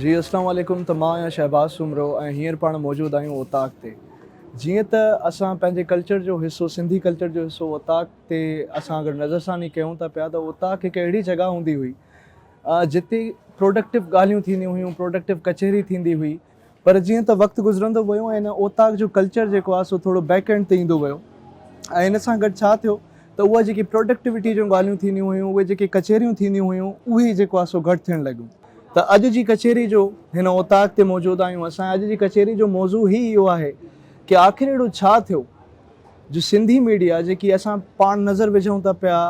جي اسلام عليڪم ته مان آهيان شهباز سومرو ۽ هينئر پاڻ موجود آهيون اوطاق تي جيئن ته اسان پنهنجي ڪلچر جو حصو سنڌي ڪلچر جو حصو اوطاق تي اسان اگر نظر ثاني ڪيون ٿا پيا ته اوطاق هڪ اهڙي جڳهه هوندي هئي جتي پروڊڪٽو ڳالهيون ٿينديون هيون پروڊڪٽو ڪچهري ٿيندي هئي پر جيئن ته وقت گذرندو ويو ۽ هن اوطاق جو ڪلچر جيڪو آهي سو ٿورو بيڪ اينڊ تي ايندو ويو ۽ ان سان گڏ ڇا ٿيو ته اها جيڪي پروڊڪٽوٽي جون ڳالهيون ٿينديون هيون اهي جيڪي ڪچهريون ٿينديون هيون اهي جيڪو آهي سو گهٽ ٿيڻ لڳيون ته اڄ جي ڪچهري جو هن اوطاق تي موجود آهيون اسان اڄ جي ڪچهري جو موضوع هي اهو آهي ڪي آخر اهڙو ڇا ٿيو جو سنڌي ميڊيا جيڪي اسان پاڻ نظر وجهون ته پيا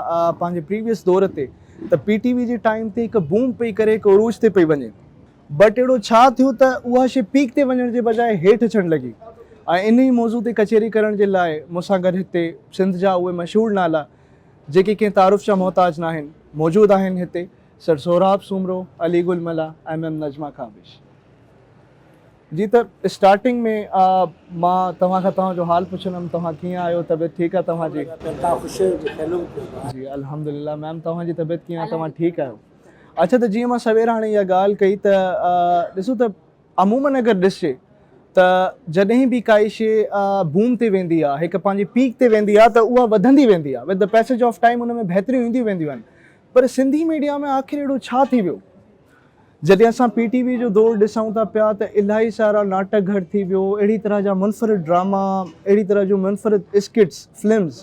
پنهنجي پريويس دور تي ته پي ٽي وي جي ٽائيم تي هڪ بوم پئي ڪري هڪ عروج تي پئي وڃي بٽ اهڙو ڇا ٿيو ته اها شي پيڪ تي وڃڻ جي بجاء هيٺ اچڻ لڳي ۽ انهي موضوع تي ڪچهري ڪرڻ جي لاء مون سان گڏ هتي سنڌ جا اهي مشهور نالا جيڪي ڪنهن تعارف جا محتاج ناهن موجود آهن هتي سر سهراب سومرو، علي گل ملاح ۽ ميم نجمه ڪابش. جي ته اسٽارٽنگ ۾ مان توهان کان توهان جو حال پڇندم توهان ڪيئن آهيو طبيعت ٺيڪ آهي توهان جي؟ جي الحمدلله ميم توهان جي طبيعت ڪيئن آهي توهان ٺيڪ آهيو؟ اچا ته جيئن مان سوير هاڻي اها ڳالهه ڪئي ته ڏسو ته عموماً اگر ڏسجي ته جڏهن به ڪائي شي بوم تي ويندي آهي هڪ پنهنجي پيڪ تي ويندي آهي ته اها وڌندي ويندي آهي with the passage of time ان ۾ بهتريون اينديون وينديون آهن پر سنڌي ميڊيا ۾ آخر اهڙو ڇا ٿي ويو جڏهن اسان پي ٽي وي جو دور ڏسون ٿا پيا ته الاهي سارا ناٽڪ گهر ٿي ويو اهڙي طرح جا منفرد ڊراما اهڙي طرح جون منفرد اسڪٽس فلمز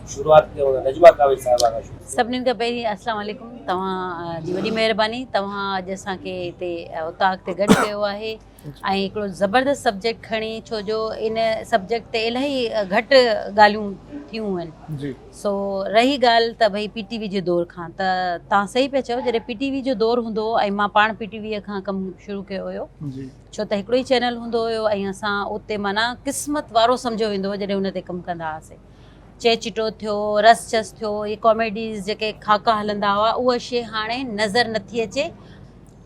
شروعات ڪيون ٿا نجمه ڪاوش صاحبه کان شروع سڀنن کان پهرين اسلام عليڪم توهان جي وڏي مهرباني توهان اڄ اسان کي هتي اوطاق تي گڏ ڪيو آهي ۽ هڪڙو زبردست سبجيڪٽ کڻي ڇو جو ان سبجيڪٽ تي الاهي گهٽ ڳالهيون ٿيون آهن جي سو رهي ڳالهه ته ڀئي پي ٽي وي جي دور کان ته توهان صحيح پيا چئو جڏهن پي ٽي وي جو دور هوندو هو ۽ مان پاڻ پي ٽي وي کان ڪم شروع ڪيو هيو جي ڇو ته هڪڙو ئي چينل هوندو هيو ۽ اسان اتي معنيٰ قسمت وارو سمجهيو ويندو هو جڏهن ان تي ڪم ڪندا هئاسين چهچٽو ٿيو رس چس ٿيو اهي ڪاميڊيز جيڪي خاڪا هلندا هئا اها شي هاڻي نظر نٿي اچي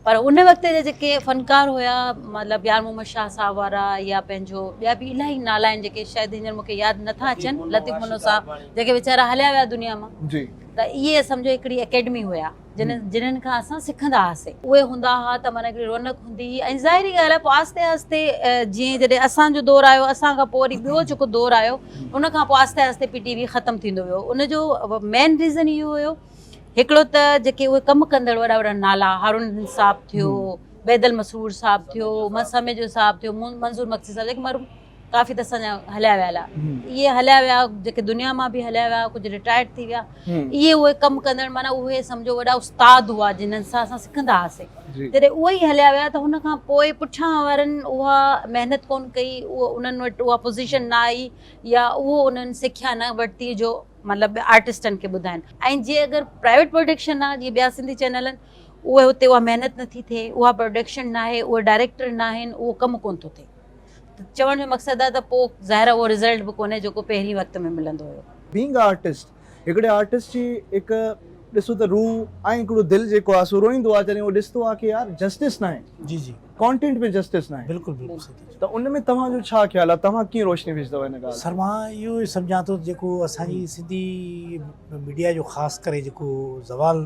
پر ان وقت جا جيڪي فنڪار هيا مطلب يار محمد شاهه صاحب وارا يا پنهنجو ٻيا به الاهي نالا آهن جيڪي شايد هينئر مونکي ياد نٿا اچن لطيف منو صاحب جيڪي ويچارا هليا ويا دنيا مان جي ته اهي سمجهو هڪڙي اڪيڊمي هيا جن جنھن کان اسان سکندا ھئاسين اھي ھوندا ھئا ته معنيٰ ھڪڙي رونق ھوندي ھئي ۽ ظاھري ڳالھ آھي پوء آھستي آھستي جيئن جڏھن اسان جو دور آيو اسان کان پوء وري ٻيو جيڪو دور آيو ان کان پوء آھستي آھستي پي ٽي وي ختم ٿيندو ويو ان جو مين ريزن اھو ھيو ھڪڙو ته جيڪي اھي ڪم ڪندڙ وڏا وڏا نالا ھارون صاحب ٿيو بيدل مسرور صاحب ٿيو مس سميجو صاحب ٿيو منظور مگسي صاحب جيڪي ڪافي ته اسان جا هليا ويا هلا اهي هليا ويا جيڪي دنيا مان به هليا ويا ڪجهه رٽائرڊ ٿي ويا اهي اهي ڪم ڪندڙ معنيٰ اهي سمجهو وڏا استاد هئا جنن سان اسان سکندا هئاسين جڏهن اهي ئي هليا ويا ته هن کان پوء پٺيان وارن اها محنت ڪونه ڪئي اهو انهن وٽ اها پوزيشن نه آئي يا اهو انهن سکيا نه ورتي جو مطلب آرٽسٽن کي ٻڌائن ۽ جي اگر پرائيويٽ پروڊڪشن آ جي ٻيا سنڌي چينل آهن اهي هتي اها محنت نٿي ٿئي اها پروڊڪشن ناهي اهي ڊائريڪٽر ناهن اهو ڪم ڪونه ٿو ٿئي ته چوڻ جو مقصد آهي ته پوء ظاهر آهي اهو رزلٽ به ڪونهي جيڪو پهرين وقت ۾ ملندو هيو. بينگ اي آرٽسٽ هڪڙي آرٽسٽ جي هڪ ڏسو ته روح ۽ هڪڙو دل جيڪو آهي سو روئيندو آهي جڏهن هو ڏسندو آهي ڪي يار جسٽس ناهي جي جي ڪانٽينٽ ۾ جسٽس ناهي بلڪل بلڪل صحيح ٿا چئو ته ان ۾ توهان جو ڇا خيال آهي توهان ڪيئن روشني وجهندو ان ڳالهه سر مان اهو سمجهان ٿو جيڪو اسان جي سنڌي ميڊيا جو خاص ڪري جيڪو زوال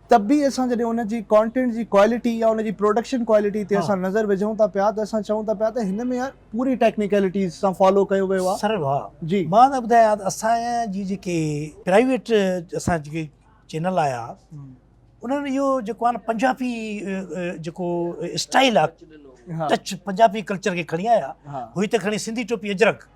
ته به اسان جڏهن ان جي ڪانٽينٽ جي ڪوالٽي يا ان جي پروڊڪشن ڪوالٽي تي اسان نظر وجهون ٿا پيا ته اسان چئون ٿا پيا ته هن ۾ يار پوري ٽيڪنيڪلٽيز سان فالو ڪيو ويو آهي سر واهه جي مان تنهن ٻڌايان ته اسان جي جيڪي پرائيويٽ اسان جيڪي چينل آيا انهن اهو جيڪو آهي نه پنجابي جيڪو اسٽائل آهي ٽچ پنجابي ڪلچر کي کڻي آيا هئي ته کڻي سنڌي ٽوپي اجرڪ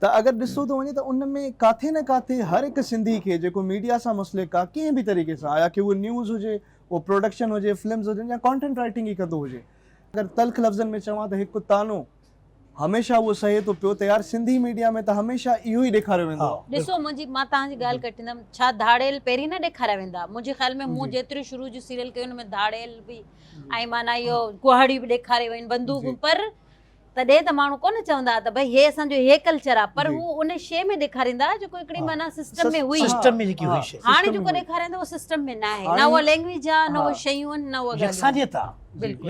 ته اگر ڏسو ته وڃي ته ان ۾ ڪاٿي نه ڪاٿي هر هڪ سنڌي کي جيڪو ميڊيا سان مسلڪ آ ڪنهن به طريقي سان آيا ڪي اهو نيوز هجي اهو پروڊڪشن هجي فلمز هجن يا ڪانٽينٽ رائيٽنگ ئي ڪندو هجي اگر تلخ لفظن ۾ چوان ته هڪ طعنو هميشه اهو سهي ٿو پيو ته يار سنڌي ميڊيا ۾ ته هميشه اهو ئي ڏيکاريو ويندو آ. ڏسو منهنجي مان توهان جي ڳالهه ڪٽيندم ڇا ڌاڙيل پهرين نه ڏيکاريا ويندا منهنجي خيال ۾ مون جيتريون شروع جون سيريل ڪيون ان ۾ ڌاڙيل به ۽ معنيٰ اهو ڪهاڙيون به ڏيکاريون ويون بندوقون پر تڏهن ته ماڻهو ڪونه چوندا ته ڀئي هي اسان جو هي ڪلچر آ پر هو ان شي ۾ ڏيکاريندا ها جيڪو هڪڙي معنيٰ سسٽم ۾ هئي سسٽم ۾ جيڪي هئي شي هاڻي جيڪو ڏيکارين ٿا اهو سسٽم ۾ ناهي نه اها لينگويج آ نه اهي شيون آهن نه اها يڪسانيت آ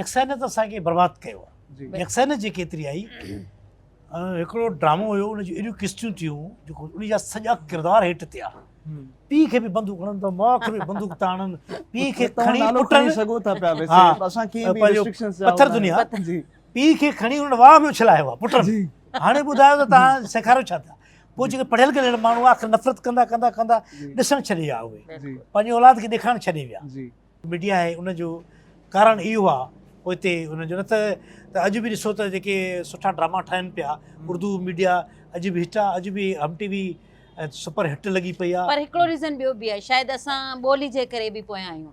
يڪسانيت اسان کي برباد ڪيو آ يڪسانيت جيڪي ايتري آئي هڪڙو ڊرامو هيو ان جون اهڙيون قسطيون ٿيون جيڪو ان جا سڄا ڪردار هيٺ ٿيا پي کي به بندوق هڻن ٿا ماء کي به بندوق ٿا هڻن پي کي کڻي پٽن سگهو ٿا پيا ويسي اسان کي به ريسٽرڪشنز جا پٿر دنيا جي پيء کي کڻي ان واهه ۾ اڇلايو آهي پٽن جي هاڻي ٻڌايو ته توهان سيکاريو ڇا ٿا پوء جيڪي پڙهيل گلهيل ماڻهو آخر نفرت ڪندا ڪندا ڪندا ڏسڻ ڇڏي ويا اهي پنهنجي اولاد کي ڏيکارڻ ڇڏي ويا ميڊيا آهي ان جو ڪارڻ اهو آهي پوء هتي ان جو نه ته ته اڄ به ڏسو ته جيڪي سٺا ڊراما ٺاهن پيا اردو ميڊيا اڄ به هٽ آهي اڄ به Hum T V super hit لڳي پئي آهي پر هڪڙو ريزن ٻيو به آهي شايد اسان ٻولي جي ڪري به پويان آهيون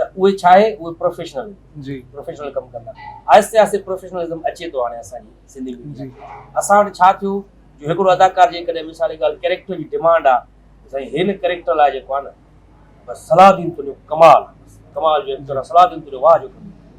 ته اهي ڇا آهي اهي پروفيشنل پروفيشنل ڪم ڪندا آهستي آهستي پروفيشنلزم اچي ٿو هاڻي اسان جي سنڌي جي اسان وٽ ڇا ٿيو جو هڪڙو اداڪار جي ڪڏهن مثال جي ڳالهه ڪيريڪٽر جي ڊيمانڊ آ سائين هن ڪيريڪٽر لاء جيڪو آ نه بس صلاح الدين تنهنجو ڪمال ڪمال جو ايڪٽر آ صلاح الدين تنهنجو واهه جو ڪم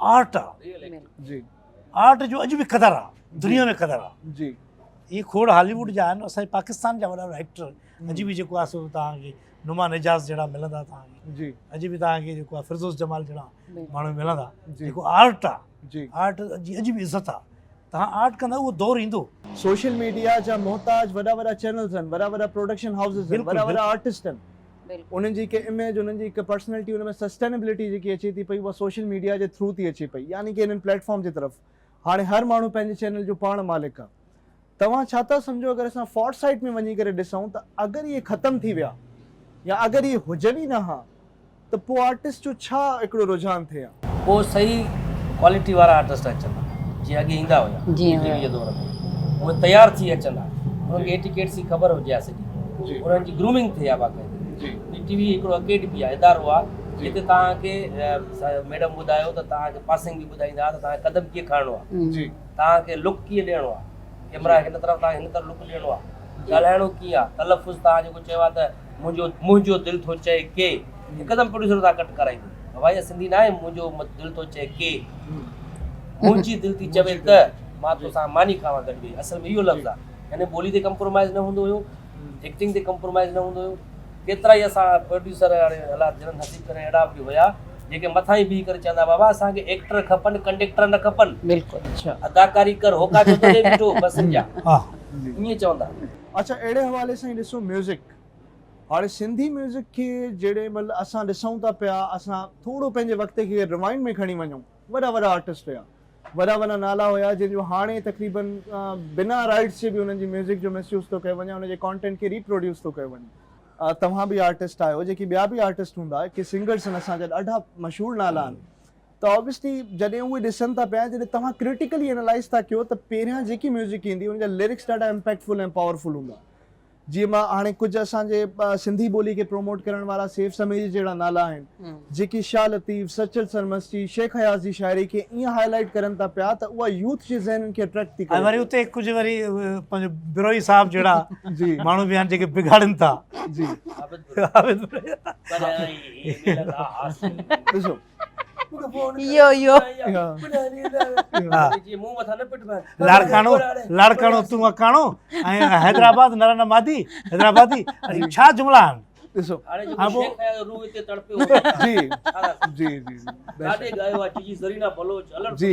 آرٽ آ جي آرٽ جو اڄ به قدر آ دنيا ۾ قدر آ جي هي کوڙ هالي ووڊ جا آهن اسان جي پاڪستان جا وڏا وڏا ايڪٽر اڄ به جيڪو آ سو توهان کي نما نجاز جهڙا ملندا توهان کي جي اڄ به توهان کي جيڪو آ فردوس جمال جهڙا ماڻهو ملندا جيڪو آرٽ آ جي آرٽ جي اڄ به عزت آ توهان آرٽ ڪندا اهو دور ايندو. سوشل ميڊيا جا محتاج وڏا وڏا چينلز آهن وڏا وڏا پروڊڪشن هائوسز آهن وڏا وڏا آرٽسٽ آهن انهن جي هڪ اميج انهن جي هڪ پرسنلٽي ان ۾ سسٽينبلٽي جيڪي اچي ٿي پئي اها سوشل ميڊيا جي ٿرو ٿي اچي پئي يعني ڪي انهن پليٽ فارم جي طرف هاڻي هر ماڻهو پنهنجي چينل جو پاڻ مالڪ آهي توهان ڇا ٿا سمجهو اگر اسان فار سائيٽ ۾ وڃي ڪري ڏسون ته اگر اهي ختم ٿي ويا يا اگر اهي هجن ئي نه ها ته پوء آرٽسٽ جو ڇا هڪڙو رجحان ٿئي ها. پوء صحيح ڪوالٽي وارا آرٽسٽ اچن ها جيئن اڳي ايندا هيا ٽي وي جي دور ۾ اهي تيار ٿي اچن ها انهن کي ايٽيڪيٽس جي خبر هجي ها سڄي انهن جي گرومنگ ٿئي ها باقاعدي پي ٽي وي هڪڙو اڪيڊمي ها ادارو ها جتي توهان کي ميڊم ٻڌايو ته توهان کي پاسنگ به ٻڌائيندا ها ته توهان کي قدم ڪيئن کڻڻو ها توهان کي لڪ ڪيئن ڏيڻو ها ڪيمرا هن طرف توهان کي هن طرف لڪ ڏيڻو ها ڳالهائڻو ڪيئن ها تلفظ توهان جيڪو چيو ها ته منهنجو منهنجو دل ٿو چئي ڪي هڪدم پروڊيوسر سان ڪٽ ڪرائي ڏنو ته ڀائي سنڌي نه آهي منهنجو دل ٿو چئي ڪي منهنجي دل ٿي چوي ته مان توسان ماني کاوان گڏ ويهي اصل ۾ اهو لفظ آهي يعني ٻولي تي ڪمپرومائز نه هوندو هيو ايڪٽنگ تي ڪمپرومائز نه هوندو هيو ڪيترا ئي اسان پروڊيوسر هاڻي الله جنت نصيب ڪري اهڙا به هيا جيڪي مٿان ئي بيهي ڪري چوندا بابا اسان کي ايڪٽر کپن ڪنڊيڪٽر نه کپن بلڪل اداڪاري ڪر هوڪا جو تڏهن بيٺو بسن جا ائين چوندا اچا اهڙي حوالي سان هي ڏسو ميوزڪ هاڻي سنڌي ميوزڪ کي جهڙي مل اسان ڏسون ٿا پيا اسان ٿورو پنهنجي وقت کي روائنڊ ۾ کڻي وڃون وڏا وڏا آرٽسٽ هيا وڏا وڏا نالا هيا جن جو هاڻي تقريبا بنا رائيٽس جي به انهن جي ميوزڪ جو مس يوز ٿو ڪيو وڃي ان جي ڪانٽينٽ کي ري پروڊيوس ٿو ڪيو وڃي. توهان به آرٽسٽ آهيو جيڪي ٻيا به آرٽسٽ هوندا ڪي سنگرس هن اسان جا ڏاڍا مشهور نالا آهن. ته Obviously جڏهن اهي ڏسن ٿا پيا جڏهن توهان Critically Analyse ٿا ڪيو ته پهريان جيڪي ميوزڪ ايندي ان جا لرڪس ڏاڍا Impactful ۽ Powerful هوندا جيئن مان هاڻي ڪجهه اسان جي سنڌي ٻولي کي پروموٽ ڪرڻ وارا سيف سميجي جهڙا نالا آهن جيڪي شاهه لطيف، سچل سرمستي، شيخ اياز جي شاعري کي ائين هائي لائيٽ ڪرن ٿا پيا ته اها يوٿ جي ذهنن کي اٽريڪٽ ٿي ڪري ۽ وري اتي ڪجهه وري پنهنجو بروهي صاحب جهڙا ماڻهو به آهن جيڪي بگاڙن ٿا جي عابد بروهي ڏسو لاڙڪاڻو لاڙڪاڻو تون اڪاڻو حيدرآباد نرن مادي حيدرآبادي ڇا جملا آهن ڏسو جي جي جي جي جي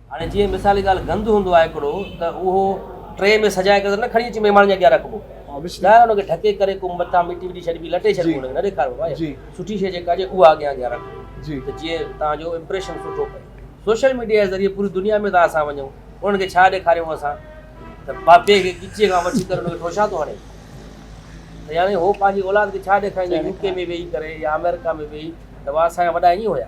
هاڻي جيئن مثالي ڳالهه گند هوندو آهي هڪڙو ته اهو ٽري ۾ سجائي ڪري ته نه کڻي اچي مهمان جي اڳيان رکبو ٻاهر ان کي ڍڪي ڪري ڪو مٿان مٽي وٽي ڇڏبي لٽي ڇڏبو ان کي نه ڏيکاربو آهي سٺي شيء جيڪا هجي اها اڳيان اڳيان رکبو ته جيئن توهان جو امپريشن سٺو پئي سوشل ميڊيا جي ذريعي پوري دنيا ۾ ته اسان وڃون انهن کي ڇا ڏيکاريون اسان ته بابي کي ڳچيء کان وٺي ڪري ان کي ٺوشا ٿو هڻي ته يعنيٰ هو پنهنجي اولاد کي ڇا ڏيکاريندو يو ڪي ۾ ويهي ڪري يا آمريڪا ۾ ويهي ته وا اسان جا وڏا ائين هيا.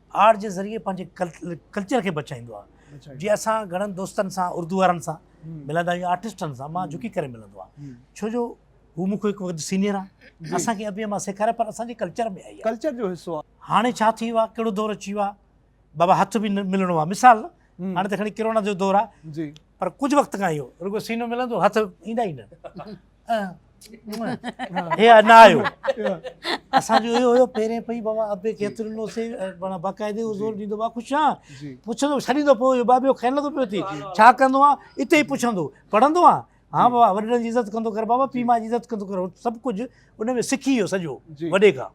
آرٽ جي ذريعي پنهنجي ڪلچر کي بچائيندو آهي جي اسان گهڻن دوستن سان اردو وارن سان ملندا آهيون آرٽسٽن سان مان جھڪي ڪري ملندو آهي ڇو جو هو مون کي هڪ وقت سينيئر آهي اسان کي ابي اما سيکاري پر اسان جي ڪلچر ۾ آهي ڪلچر جو حصو آهي هاڻي ڇا ٿي ويو آهي ڪهڙو دور اچي ويو آهي بابا هٿ به ملڻو آهي مثال هاڻي ته کڻي ڪرونا جو دور آهي جي پر ڪجهه وقت کان اهو رڳو سينو ملندو هٿ ايندا ئي نه هي انا آيو اسان جو اهو هيو پهرين پئي بابا ابي کيتري نو سي بنا باقاعده او زور ديندو با خوش آ پڇندو سڙي دو پو بابيو کين لگو پيو تي ڇا ڪندو آ اتي پڇندو پڙهندو آ ها بابا وڏن جي عزت ڪندو ڪر بابا پي ما جي عزت ڪندو ڪر سڀ ڪجهه ان ۾ سکي ويو سڄو وڏي کان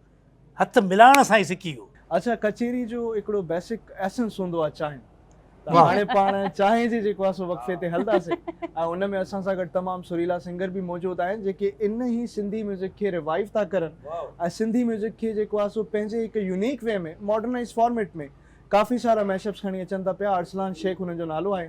هٿ ملائڻ سان ئي سکي ويو. اچا ڪچهري جو هڪڙو بيسڪ ايسنس هوندو آهي چانهه ته هاڻي پاڻ چانهه جي جيڪو آهي سو وقفي تي هلنداسين ۽ ان ۾ اسان سان گڏ تمام سريلا سنگر به موجود آهن جيڪي ان هي سنڌي ميوزڪ کي ريوائيو ٿا ڪرن ۽ سنڌي ميوزڪ کي جيڪو آهي سو پنهنجي هڪ يونيڪ وي ۾ ماڊرنائيز فارميٽ ۾ ڪافي سارا ميش اپس کڻي اچن ٿا پيا ارسلان شيخ انهن جو نالو آهي.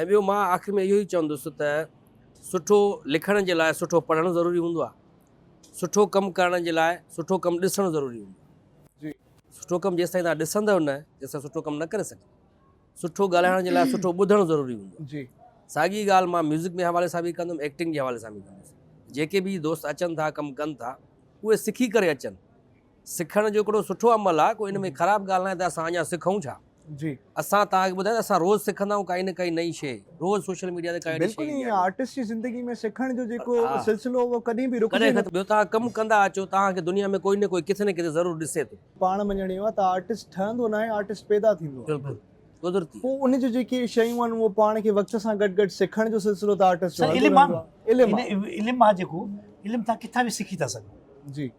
۽ ٻيو مان آخر ۾ اهو ئي چوندس ته سٺو لکڻ جي لاء سٺو پڙهڻ ضروري هوندو آهي، سٺو ڪم ڪرڻ جي لاء سٺو ڪم ڏسڻ ضروري هوندو آهي. سٺو ڪم جيستائين توهان ڏسندؤ نه تيستائين سٺو ڪم نه ڪري سگهندؤ. سٺو ڳالهائڻ جي لاء سٺو ٻڌڻ ضروري هوندو آهي. ساڳي ڳالهه مان ميوزڪ جي حوالي سان به ڪندم ايڪٽنگ جي حوالي سان به ڪندس. جيڪي به دوست اچن ٿا ڪم ڪن ٿا اهي سکي ڪري اچن. سکڻ جو هڪڙو سٺو عمل آهي ڪو ان ۾ خراب ڳالهه ناهي ته اسان اڃا سکون ڇا جي اسان توهان کي ٻڌايو ته اسان روز سکندا آهيون ڪائي نه ڪائي نئي شيء روز سوشل ميڊيا تي ڪائي نه ڪائي بلڪل ايئن آرٽسٽ جي زندگي ۾ سکڻ جو جيڪو سلسلو هو ڪڏهن به رڪجي نه ٻيو توهان ڪم ڪندا اچو توهان کي دنيا ۾ ڪوئي نه ڪوئي ڪٿي نه ڪٿي ضرور ڏسي ٿو. پاڻ مڃڻ اهو آهي ته آرٽسٽ ٺهندو ناهي آرٽسٽ پيدا ٿيندو آهي بلڪل قدرتي پوء ان جون جيڪي شيون آهن اهو پاڻ کي وقت سان گڏ گڏ سکڻ جو سلسلو ته آرٽسٽ جو هلندو رهندو آهي علم آهي علم آهي جيڪو علم توهان ڪٿان به سکي ٿا سگهو جي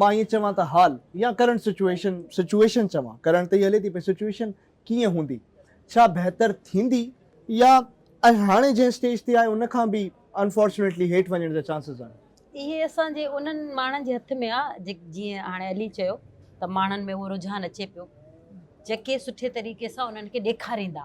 مان ائين چوان ته حال يا ڪرنٽ سچوئيشن، Situation، چوان، ڪرڻ ته ئي هلي ٿي پئي، سچوئيشن ڪيئن هوندي، ڇا بهتر ٿيندي يا اڄ هاڻي جنهن اسٽيج تي آهي ان کان به Unfortunately هيٺ وڃڻ جا چانسز آهن. اهي اسان جي انهن ماڻهن جي هٿ ۾ آهي، جيئن هاڻي علي چيو ته ماڻهن ۾ اهو رجحان اچي پيو، جيڪي سٺي طريقي سان انهن کي ڏيکاريندا.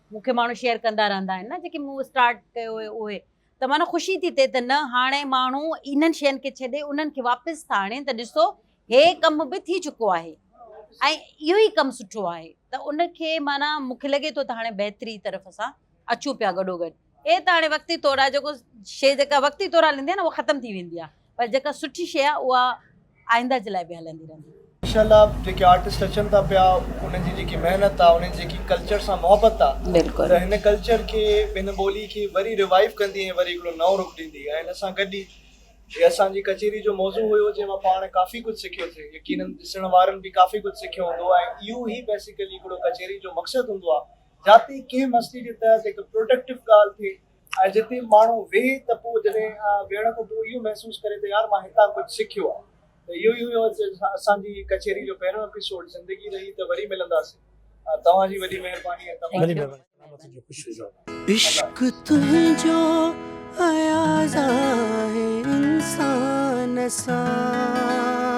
مون کي ماڻهو شيئر ڪندا رهندا آهن نه جيڪي مون اسٽارٽ ڪيو هيو اهي ته معنيٰ خوشي ٿي ٿئي ته نه هاڻي ماڻهو انهن شين کي ڇڏي انهن کي واپس ٿا آڻين ته ڏسو هي ڪم به ٿي چڪو آهي ۽ اهو ئي ڪم سٺو آهي ته ان کي معنيٰ مون کي لڳي ٿو ته هاڻي بهتري طرف اسان اچون پيا گڏو گڏ اهي ته هاڻي وقتي طور آهي جيڪو شيء جيڪا وقتي طور هلندي آهي نه اها ختم ٿي ويندي آهي پر جيڪا سٺي شيء آهي اها آئنده جي لاء به هلندي رهندي. انشاء الله جيڪي آرٽسٽ اچن ٿا پيا انهن جي جيڪي محنت آهي انهن جي جيڪي ڪلچر سان محبت آهي ته هن ڪلچر کي هن ٻولي کي وري ريوائيو ڪندي ۽ وري هڪڙو نئون رخ ڏيندي ۽ ان سان گڏ ئي جي اسان جي ڪچهري جو موضوع هيو جنهن مان پاڻ ڪافي ڪجهه سکيو سي يقينن ڏسڻ وارن به ڪافي ڪجهه سکيو هوندو ۽ اهو ئي بيسيڪلي هڪڙو ڪچهري جو مقصد هوندو آهي جاتي ڪنهن مسئلي جي تحت هڪ پروڊڪٽو ڳالهه ٿئي ۽ جتي ماڻهو ويهي ته پوء جڏهن ويهڻ کان پوء اهو محسوس ڪري ته يار مان هتان ڪجهه سکيو آهي ته اهو ئي هيو اسان جي ڪچهري جو پهريون ايپيسوڊ زندگي رهي ته وري ملنداسين توهان جي وڏي مهرباني ۽ توهان جي عشق تنهنجو اياز آهي انسان سان